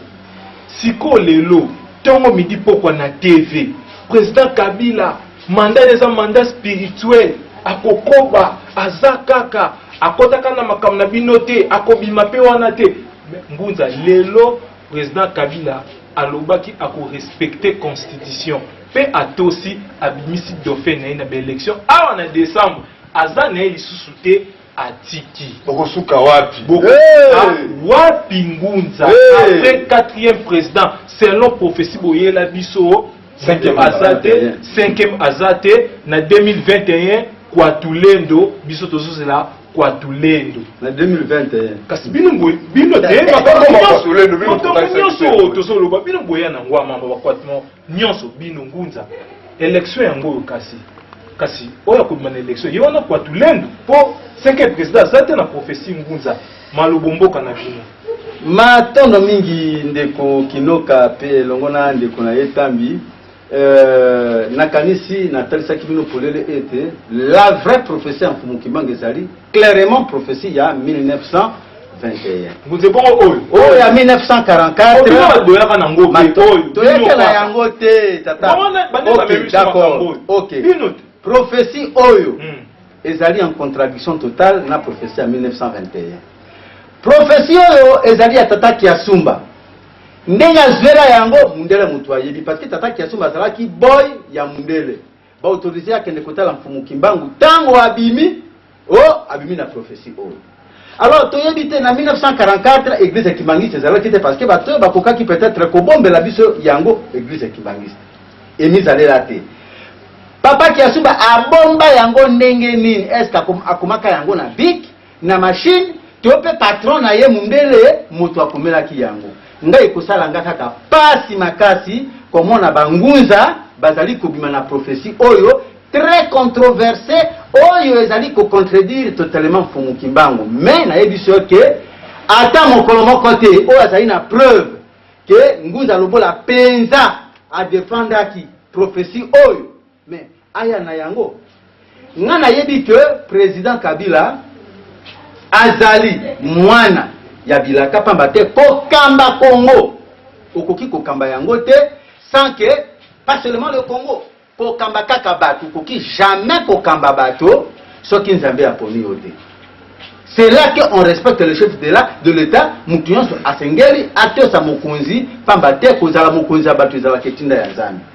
S4: sikoyo lelo tongo midi pokwa na TV president kabila mandat naye eza mandat spirituel akokoba aza kaka akotaka na makambo na bino te akobima pe wana te mais ngunza lelo president kabila alobaki ako respecter constitution pe atosi abimisi dauphin naye na ba election awa na decembre aza naye lisusu te. atiki bokosuka wapi
S2: boko ah,
S4: wapi ngunza après quatrième président selon prophétie boyela biso cinquième aza te cinquième aza te na 2021 kwatulendo biso tozozela kwatulendo na 2021
S3: kasi bino boye
S4: bino te makambo nyonso tozoloba bino boya na ngwa mama bakwatmo Nionso bino ngunza election yango oyo kasi kasi oyo akobima na election ye wana kwa tulendo po cinquième président aza te na prophetie ngunza malobo mboka na bino. Matondo
S3: mingi ndeko Kinoka pe elongo na ndeko na ye Tambi. Euh, nakanisi natalisaki bino polele ete la vraie prophetie ya Mfumu Kimbangu ezali clairement prophetie ya 1900
S4: Ngunze bongo oyo
S3: oyo ya
S4: 1944 toyekela yango
S3: te tata prophetie oyo hmm. ezali en contradiction totale na prophetie ya 1921 prophetie oyo ezali ya tata kiasumba ndenge azwela yango mundele moto ayebi parce que tata kiasumba azalaki boy ya mundele Ba autoriser ye akende kotala Mfumu Kimbangu tango abimi o abimi na prophetie oyo. Alors toyebi te na 1944 eglise ya Kimbanguiste ezalaki te parce que bato oyo bakokaki peut-etre kobombela biso yango eglise ya Kimbanguiste emizalela te. Papa Kiasumba abomba yango ndenge nini? Est-ce que akomaka yango na bic? na machine to pe patron na ye mundele mutu akumelaki yango ngai ekosala nga kaka pasi makasi komona ba ngunza bazali kobima na prophetie oyo très controverse oyo ezali ko contredire totalement Mfumu Kimbangu mais nayebisi yo ke ata mokolo moko te oyo azali na preuve ke Ngunza Lobola penza a defendaki prophetie oyo mais Aya na yango nga nayebi que president Kabila azali mwana ya bilaka pamba te kokamba Congo okoki kokamba yango te sans que pas seulement le Congo kokamba kaka bato okoki jamais kokamba bato soki nzambe aponi yo te c'est là que on respecte le chef de la de l'état moto nyonso asengeli atosa mokonzi pamba te kozala mokonzi ya bato ezalaka etinda ya nzambe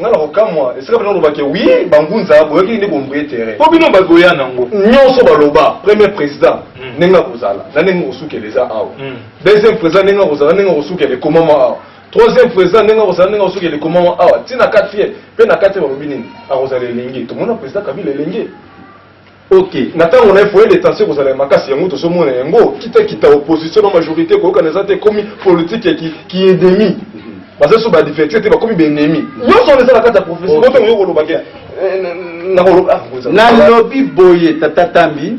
S3: nga na kokamwa esika bino olobake wi bangunza boyoki nde bombrie terrain mpo bino
S2: bagoya nango nyonso baloba premier président hmm. ndenge akozala na ndenge kosukela eza awa hmm. deuxième président ndenge akozala ndenge kosukela ekomama awa troisième président ndenge akozala ndenge kosukela ekomama awa ntina quatrième mpe na quatrième balobi nini akozala elenge tomona président kabila elenge Ok
S3: na ntango na ye point
S2: de tension ekozala ya makasi yango tozomona yango kita kita opposition na majorite koyokana eza te ekomi politique ya ki ki ennemi baza so ba divertir te bakomi ba ennemi nyonso wana eza na kati ya prophetie boto oyo koloba ke eh, na- na- nakoloba ah, ngonza- nalobi
S3: boye tata tambi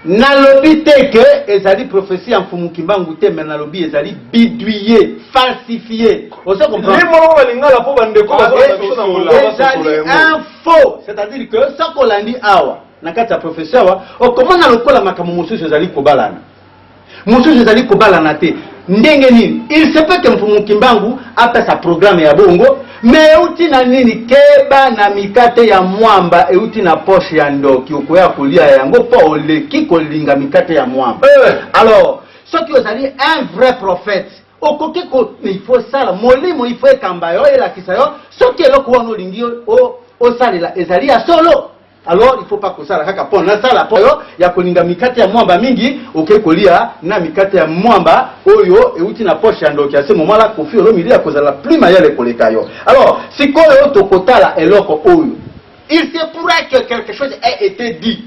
S3: Nalobi te que ezali prophetie ya Mfumu Kimbangu te mais nalobi ezali biduiye, falsifie. Ozo comprendre? Ye moko ba lingala po ba
S2: ndeko ba zola biso na Congo ba sosola yango.
S3: Ezali un faux, c'est à dire que soki olandi awa na kati ya prophetie awa okomona lokola makambo mosusu ezali kobalana. Mosusu ezali kobalana te. Ndenge nini? Il se peut que Mfumu Kimbangu apesa programme ya bongo, mais euti na nini? Keba na mikate ya mwamba euti na poche ya ndoki, okoya kolia yango mpo oleki kolinga mikate ya mwamba. Eh. Alors, soki ozali un vrai prophète, okoki ko il faut sala molimo il faut ekamba yo elakisa yo soki eloko wana olingi osalela ezali ya solo. Alors il faut pas kosala kaka pona na sala po ya kolinga mikate ya mwamba mingi oke kolia na mikate ya mwamba oyo euti na poche ya ndoki ya se momala kofi olomide ya kozala plus mayele koleka yo alors sikoyo tokotala eloko oyo il se pourra que quelque chose a été dit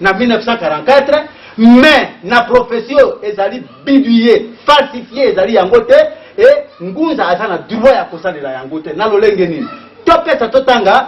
S3: na 1944 mais na prophetie oyo ezali bidouille falsifie ezali yango te e ngunza aza na droit ya kosalela yango te na lolenge nini topesa totanga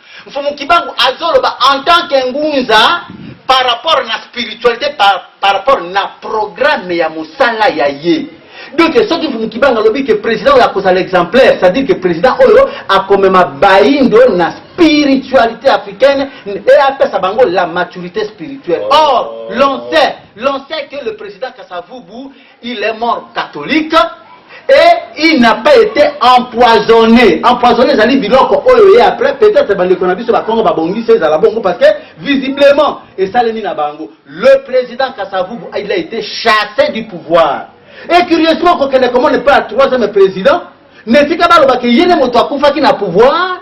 S3: Mfumu Kibangu azoloba en tant que Ngunza par rapport na spiritualite par, par rapport na programme ya mosala ya ye. Donc soki Mfumu Kibangu alobi que president oyo akozala exemplaire, c'est à dire que president oyo akomema bayindo na spiritualite africaine et apesa bango la maturite spirituelle. Or l'on sait, l'on sait que le president Kasa Vubu Il est mort catholique et il n'a pas ete empoisonne. Empoisonne ezali biloko oyo eye après peut-etre bandeko na biso bakongo babongisi ezala bongo parce que visiblement esalemi na bango. Le president Kasavubu il a ete chasse du pouvoir et curieusement kokende komona epai ya troisième president na esika baloba ke ye nde moto akufaki na pouvoir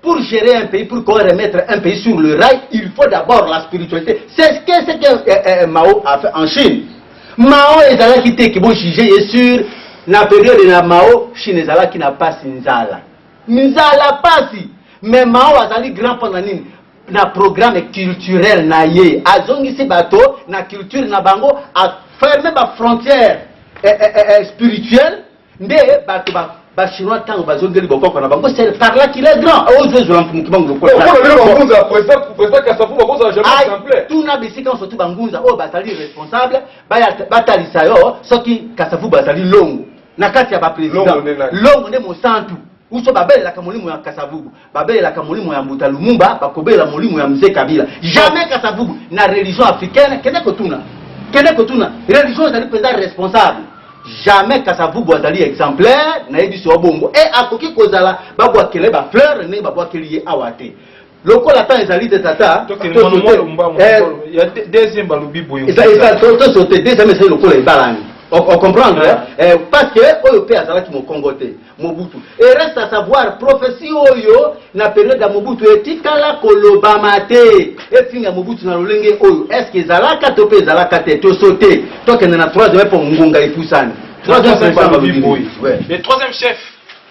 S3: Pour gerer un pays, pour qu'on remettre un pays sur le rail, il faut d'abord la spiritualité. C'est ce que, ce que euh, euh, Mao a fait en Chine. Mao ezalaki te kibo juger ye sur na période na Mao, Chine ezalaki na pasi nzala. Nzala pasi. Mais Mao azali grand pendant nini? na programme culturel na ye azongisi bato na culture na bango aferme bafrontière eh, eh, eh, eh spirituelle Nde bato ba ba chinois tango bazongeli bokoko na bango c'est par là qu'il est grand ozo ezwa mfumu kibangu lokola Oyo mpona bino bangunza
S2: president president kasavu bakozala jamais Ay, exemple tuna bisika nyonso tu
S3: bangunza oyo bazali responsable baya batalisa yo soki kasavubu azali longo na kati ya ba Longo president nde nani? longo nde mosantu Uso babelelaka molimo ya kasavubu, babelelaka molimo ya mbuta lumumba, bakobelela molimo ya mzee kabila jamais kasavubu na religion africaine kende kotuna kende kotuna religion ezali mpenza responsable jamais kasavubu azali exemplaire nayebisi yo bongo e akoki kozala babwakele ba fleur ndenge babwakeli ye awa te lokola ata ezali te tata
S4: tosote
S3: deuxième ezali lokola ebalani ocomprendre ah. eh, parce que oyo mpe azalaki mokongo te mobutu e reste à savoir prophetie oyo na periode ya mobutu etikala kolobama te efinga mobutu na lolenge oyo est ce que ezalaka to mpe ezalaka te tosote tokende na troisième mpo ngonga epusani
S4: troisième chef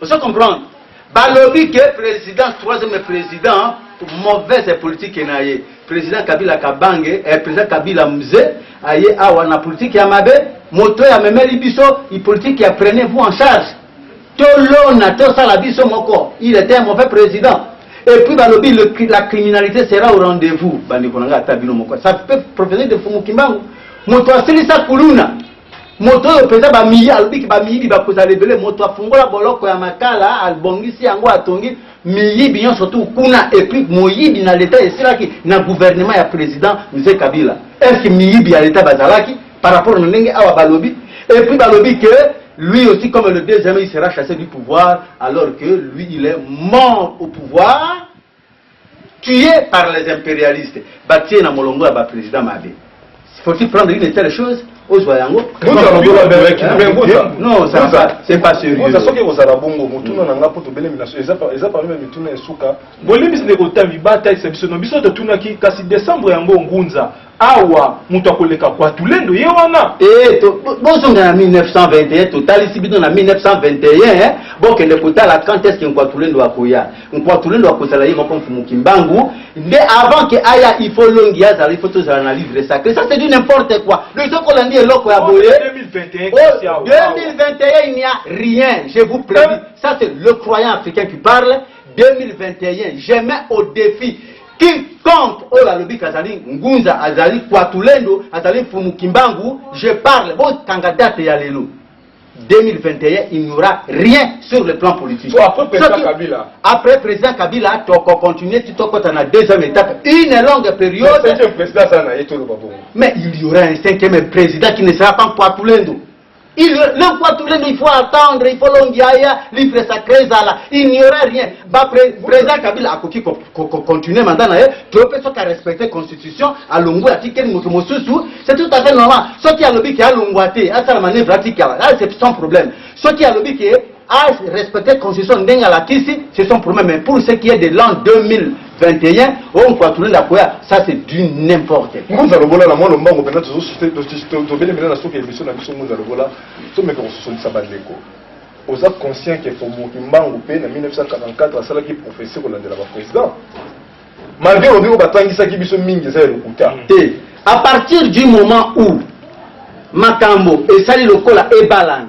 S3: Ozo comprendre? Balobi que president troisième president pour mauvaise politique na ye. President Kabila Kabange, eh, president Kabila Mze aye awa na politique ya mabe, moto ya memeli biso, i politique ya prenez vous en charge. To lona, to sala biso moko. Il était un mauvais président. Et puis balobi le, la criminalité sera au rendez-vous. Bandi konanga ata bino moko. Ça peut profiter de Fumu Kimbangu. Moto asilisa kuluna. Moto oyo penza ba miyi alobi ki ba miyibi bakozala ebele moto afungola boloko ya makala abongisi yango atongi miyibi nyonso tout kuna et puis moyibi na l'etat esilaki na gouvernement ya president Mzee Kabila est ce que miyibi ya l'etat bazalaki par rapport na ndenge awa balobi et puis balobi que lui aussi comme le deuxième il sera chassé du pouvoir alors que lui il est mort au pouvoir tue par les imperialistes batie na molongo ya ba president mabe faut-il prendre une telle chose ozwa yango soki ekozala bongo motuna na nga mpo tobelemi na so eza parmi ya mituna ya suka bolimbisi ndeko otambi
S4: batalisa biso no biso totunaki kasi decembre yango ngunza Awa mutu akoleka Wazulendo ye wana. Eeh to bozonga
S3: na 1921 totalisi bino na 1921 eh bokende kotala quand est ce que Nkwatulendo akoya Nkwatulendo akozala ye moko Mfumu Kimbangu nde avant que aya il faut longi azala il faut tozala na livre sacré ça c'est du n'importe quoi donc tokolandi eloko ya boye 2021 kasi awa. 2021 il n'y a rien je vous prédis ça c'est le croyant africain qui parle 2021 je mets au défi Quiconque oyo alobi kazali ngunza azali kwatulendo azali mfumu kimbangu je parle botanga date ya lelo 2021 il n'y aura rien sur le plan politique. So après président Soki, Kabila.
S2: Après président Kabila, toko continuer
S3: tout au na deuxième étape, une longue période. Mais, président, ça, mais il y aura un cinquième président qui ne sera pas Kwatulendo. Il, le fois tous les il faut attendre, il faut longiaya, livre sacré ezala, il n'y aura rien. Ba pre, président Kabila akoki ko, ko, ko continuer mandat na ye, to pe soki a respecter constitution, alongwe atikeli moto mosusu, c'est tout à fait normal. Soki alobi ke alongwa te, asala manœuvre atikala, là c'est sans problème. Soki alobi ke a respecte constitution ndenge alakisi c'est son problème mais pour ce qui est de l'an 2021 oyo mpo atulenda akoya ça c'est du n'importe ngunza lobola na mwa lombango
S2: mpenza tobele mpenza na suka emission na biso ngunza lobola tomeka kososolisa bandeko oza conscient ke faubourg kimbangu mpe na 1944 asalaki professeur kolandela baprésident malgré olobi oyo batangisaki biso mingi eza ya lokuta mm. te à partir
S3: du moment où makambo esali lokola ebalana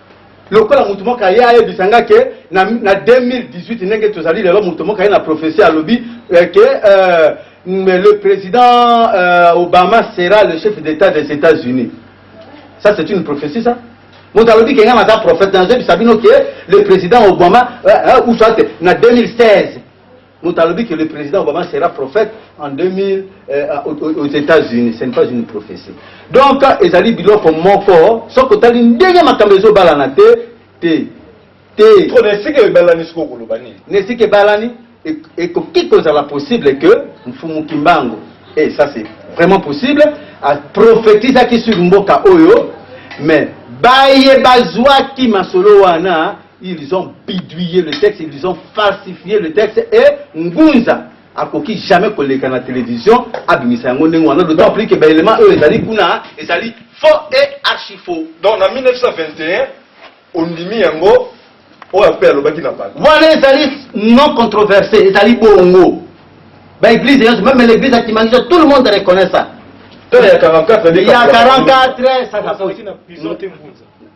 S3: lokola moto moko aye ayebisa nga ke na, na 2018 ndenge tozali lelo moto moko aye na prophesie alobi eh, ke euh, le président euh, obama sera le chef d'état des états-unis ça c'est une prophétie ça moto alobi ke nga naza prophète nazebisa bino ke le président obama euh, euh, ou soit na 2016 Moto alobi que le président Obama sera prophète en 2000 euh, aux États-Unis, ce n'est pas une prophétie. Donc ezali biloko moko soki otali ndenge makambo ezobalana te te te. Trop
S2: na esika ebalani sikoyo koloba nini? Na esika ebalani
S3: ekoki kozala possible que Mfumu Kimbangu et ça c'est vraiment possible a prophétisaki sur mboka oyo mais baye bazwaki masolo wana Ils ont bidouillé le texte, ils ont falsifié le texte et Ngunza akoki jamais koleka na télévision abimisa yango ndenge wana d'autant plus que ba éléments oyo ezali kuna ezali faux et archi faux. Donc na 1921
S2: ondimi yango oyo ape alobaki na bato. Wana ezali
S3: non controversé, ezali bongo. Ba église yonso même l'église ya Kimangija tout le monde reconnaît ça. Tala ya 44 ya 44
S2: ça ça.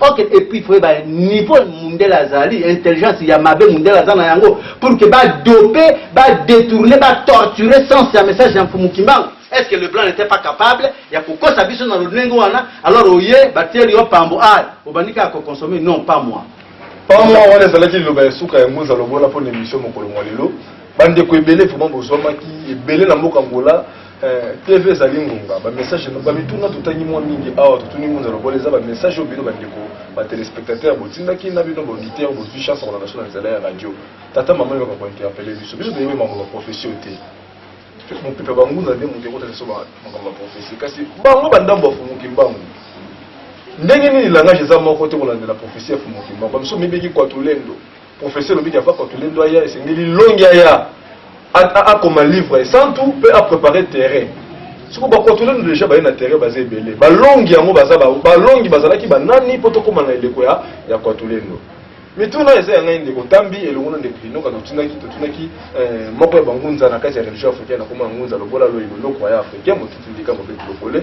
S3: Ok et puis frère ba niveau mundele azali intelligence ya mabe mundele aza na yango pour que ba dope ba detourner ba torturer sens ya message ya mfumu kimbangu est-ce que le blanc n'était pas capable ya kokosa biso na lolenge wana alors oye batieli yo pambo a obandi kaka kokonsome non pas moi pamwa wana
S2: ezalaki liloba ya suka ya ngoza lobola mpo na emission mokolo mwa lelo bandeko ebele vraiment bozwamaki ebele na mboka angola Eh, TV ezali ngonga ba message ba mituna totangi mwa mingi awa totuni ngunza lokola eza ba message oyo bino bandeko ba téléspectateurs botindaki na bino ba auditeur bozwi chance kolanda so na nzela ya radio tata mama yoka ko interpeller biso biso toyebi makambo ya profession te mopepe bangunza nde moto ekotala biso makambo ya profession kasi bango bandambo ya fumuki mbangu ndenge nini langage eza moko te kolandela profession ya fumuki mbangu bamiso mibeki kwatulendo Profesi elobi ke Papa Tulendo aya, esengeli Longi aya akoma livre esantu pe a preparer terrain. Sikoyo ba Kwatulendo deja baye na terrain baza ebele, ba Longi yango baza ba ba Longi bazalaki ba nani po tokoma na eleko ya ya Kwatulendo? Mituna eza ya ngai ndeko Tambi elongo na ndeko Linoka totunaki totunaki eh, moko ya ba ngunza na kati ya religion africaine akoma ngunza lokola loyilo, lokwaya africain, motutu ndika, mobetu lokole.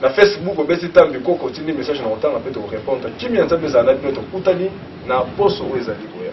S2: Na Facebook obeti tambi koko otindi message na kotanga mpe toko repondre kimia ya Nzambe ezala na bino tokutani na poso oyo ezali koya.